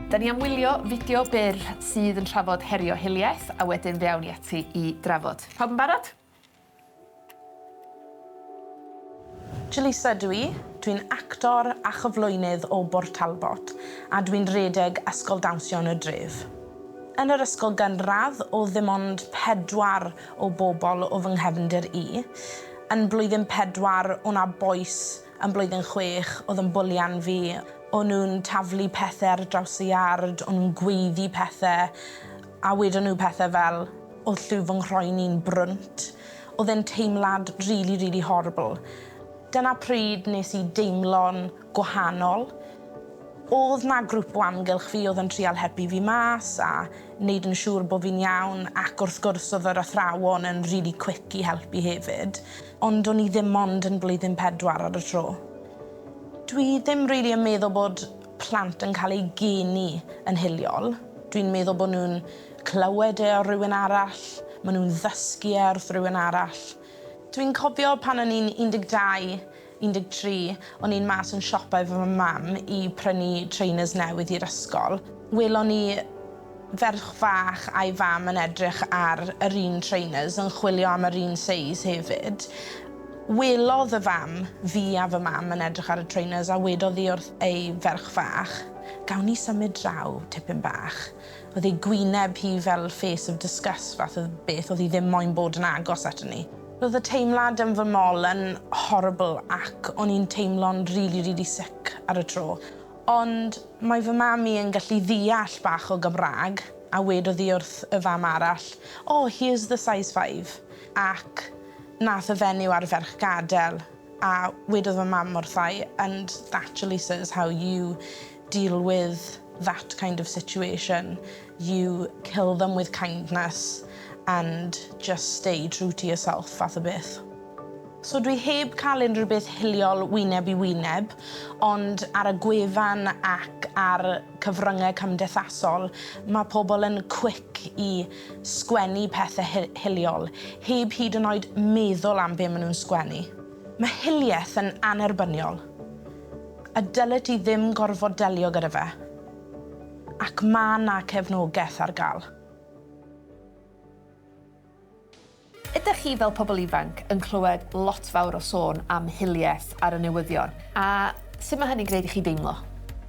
Da ni am wylio fideo byr sydd yn trafod herio hiliaeth a wedyn fe awn ni ati i drafod. Pawb yn barod? Jaleesa ydw i, dwi'n actor a chyflwynydd o Bort Talbot a dwi'n rhedeg Ysgol Dawnsio yn y dref. Yn yr ysgol gynradd oedd ddim ond pedwar o bobl o fy nghefndir i. Yn blwyddyn pedwar o' 'na bois yn blwyddyn chwech oedd yn bwlian fi, o'n nhw'n taflu pethe ar draws y iard, o'n nhw'n gweiddi pethe a wedon nhw pethe fel O'dd lliw fy nghroen i'n brwnt. O'dd e'n teimlad rili rili horrible. Dyna pryd nes i deimlo'n gwahanol. O'dd 'na grŵp o amgylch fi o'dd yn trial helpu fi mas a neud yn siŵr bo' fi'n iawn ac wrth gwrs o'dd yr athrawon yn rili quick i helpu hefyd. Ond o'n i ddim ond yn blwyddyn pedwar ar y tro. Dwi ddim rili yn meddwl bod plant yn ca'l eu geni yn hiliol. Dwi'n meddwl bo' nw'n Clywed e o rywun arall, maen nhw'n ddysgu e wrth rywun arall. Dwi'n cofio pan o'n i'n 12, 13, o'n i'n mas yn siopa efo fy mam i prynu trainers newydd i'r ysgol. Welon ni ferch fach a'i fam yn edrych ar yr un trainers, yn chwilio am yr un seis hefyd. Welodd y fam fi a fy mam yn edrych ar y trainers a wedodd hi wrth ei ferch fach, 'Gawn ni symud draw tipyn bach? Oedd ei gwyneb hi fel face of disgust fath o beth, oedd hi ddim moyn bod yn agos ato ni. Roedd y teimlad yn fy mol yn horrible ac o'n i'n teimlo'n rili rili sick ar y tro. Ond mae fy mam i yn gallu ddeall bach o Gymraeg a wedodd hi wrth y fam arall, O, here's the size five. Ac nath y fenyw a'r ferch gadel a wedodd fy mam wrtha i, And that Jaleesa is how you deal with that kind of situation, you kill them with kindness and just stay true to yourself fath o beth. So dwi heb cael unrhyw beth hiliol wyneb i wyneb, ond ar y gwefan ac ar cyfryngau cymdeithasol mae pobl yn quick i sgwennu pethau hiliol, heb hyd yn oed meddwl am be maen nhw'n sgwennu. Mae hiliaeth yn annerbyniol. A dylet ti ddim gorfod delio gyda fe. Ac ma' 'na cefnogeth ar ga'l. Ydych chi fel pobl ifanc yn clywed lot fawr o sôn am hiliaeth ar y newyddion, a sut mae hynny'n gwneud i chi deimlo?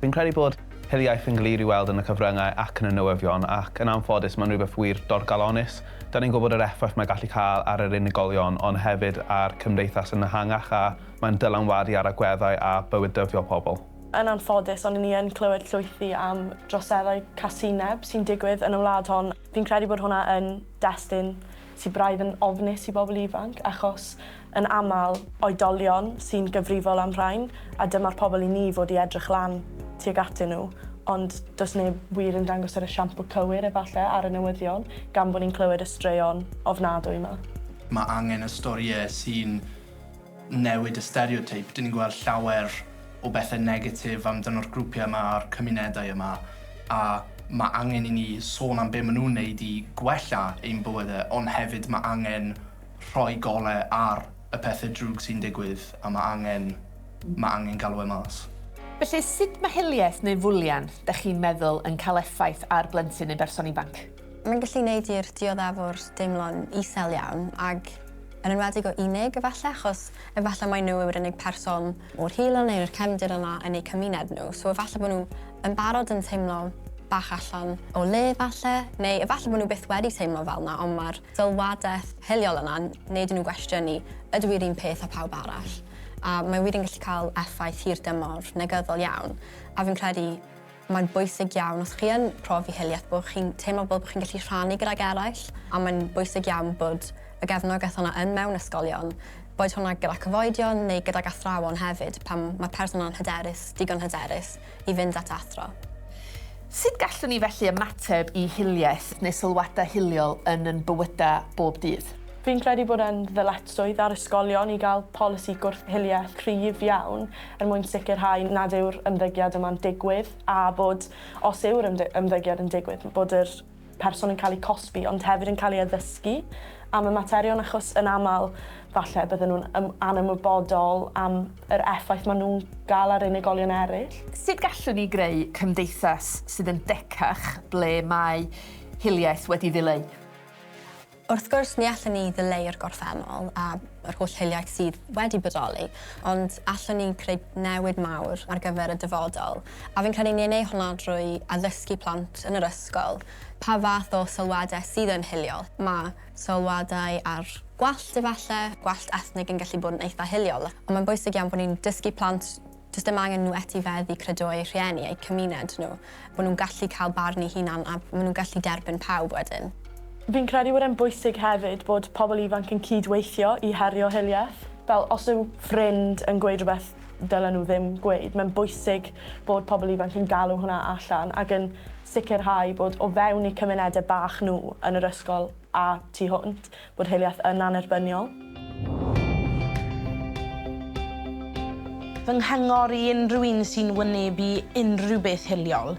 Fi'n credu bod hiliaeth yn glir i weld yn y cyfryngau ac yn y newyddion, ac yn anffodus mae'n rhywbeth wir dorcalonnus. Dan ni'n gwybod yr effaith mae'n gallu cael ar yr unigolion, ond hefyd ar cymdeithas yn ehangach a Mae'n dylanwadu ar agweddau a bywyd dyddiol pobl. Yn anffodus, ond 'yn ni yn clywed llwythi am droseddau casineb sy'n digwydd yn y wlad hon. Fi'n credu bod hwnna yn destun sy braidd yn ofnus i bobl ifanc, achos yn aml, oedolion sy'n gyfrifol am rhain, a dyma'r pobl i ni fod i edrych lan tuag atyn nhw, ond does neb wir yn dangos yr esiampl cywir, efallai, ar y newyddion, gan bod ni'n clywed y straeon ofnadwy 'ma. Mae angen y storïau sy'n newid y stereoteip, dyn ni'n gweld llawer o bethe negatif amdano'r grwpiau yma a'r cymunedau yma, a ma' angen i ni sôn am be' ma' nhw'n neud i gwella ein bywyde, ond hefyd ma' angen rhoi gole ar y pethe drwg sy'n digwydd, a ma' angen ma' angen galw e mas. Felly, sut ma' hiliaeth neu fwlian, 'dach chi'n meddwl, yn cael effaith ar blentyn neu berson ifanc? Mae'n gallu neud i'r dioddefwr deimlo'n isel iawn, ag Yn enwedig o unig, efallai, achos efallai mai nhw yw'r unig person o'r heulwen neu'r cefndir yna yn eu cymuned nhw, so efallai bod nhw yn barod yn teimlo bach allan o le efallai, neu efallai bod nhw byth wedi teimlo fel 'na ond mae'r sylwadaeth hiliol yna'n neud i nhw gwestiynu 'ydw i'r un peth â pawb arall? A mae wir yn gallu cael effaith hirdymor negyddol iawn, a fi'n credu Mae'n bwysig iawn os chi yn profi hiliaeth bod chi'n teimlo fel bod chi'n gallu rhannu gydag eraill a mae'n bwysig iawn bod y gefnogaeth yna yn mewn ysgolion, boed hwnna gyda cyfoedion neu gydag athrawon hefyd pan mae person yna'n hyderus, digon hyderus, i fynd at athro. Sut gallwn ni felly ymateb i hiliaeth neu sylwadau hiliol yn yn bywydau bob dydd? Fi'n credu bod e'n ddyletswydd ar ysgolion i gael polisi gwrth-hiliaeth cryf iawn. er mwyn sicrhau nad yw'r ymddygiad yma'n digwydd a bod, os yw'r ymddygiad yn digwydd, bod yr person yn cael eu cosbi ond hefyd yn cael ei addysgu am y materion achos yn aml falle bydden nhw'n anymwybodol am yr effaith maen nhw'n gael ar unigolion eraill. Sut gallwn ni greu cymdeithas sydd yn decach ble mae hiliaeth wedi ddileu? Wrth gwrs, ni allwn ni ddileu'r gorffennol a yr holl hiliaeth sydd wedi bodoli, ond allwn ni creu newid mawr ar gyfer y dyfodol, a fi'n credu ni yn ei honno drwy addysgu plant yn yr ysgol pa fath o sylwadau sydd yn hiliol. Mae sylwadau ar gwallt, efallai, gwallt ethnig yn gallu bod yn eitha' hiliol, ond mae'n bwysig iawn bod ni'n dysgu plant Does dim angen nhw etifedd i credu eu rhieni, eu cymuned nhw. Maen nhw'n gallu cael barn eu hunan a maen nhw'n gallu derbyn pawb wedyn. Fi'n credu bod e'n bwysig hefyd bod pobl ifanc yn cyd-weithio i herio hiliaeth. Fel, os yw ffrind yn gweud rhywbeth dylen nhw ddim gweud, mae'n bwysig bod pobl ifanc yn galw hwnna allan ac yn sicrhau bod o fewn eu cymunedau bach nhw yn yr ysgol a tu hwnt, Bod hiliaeth yn annerbyniol. Fy nghyngor i unrhyw un sy'n wynebu unrhyw beth hiliol,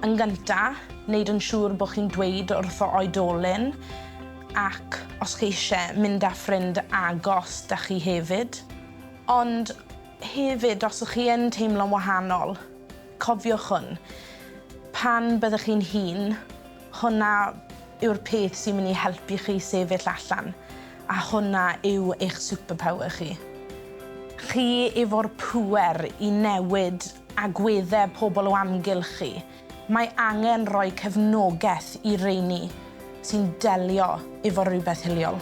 yn gyntaf, wneud yn siŵr bod chi'n dweud wrtho oedolyn ac os chi eisiau mynd â ffrind agos 'da chi hefyd. Ond hefyd, os ych chi yn teimlo'n wahanol, cofiwch hwn, pan byddwch chi'n hŷn, Hwnna yw'r peth sy'n mynd i helpu chi sefyll allan, a hwnna yw eich superpower chi. Chi efo'r pŵer i newid agweddau pobl o amgylch chi. Mae angen rhoi cefnogaeth i reini sy'n delio efo rhywbeth hiliol.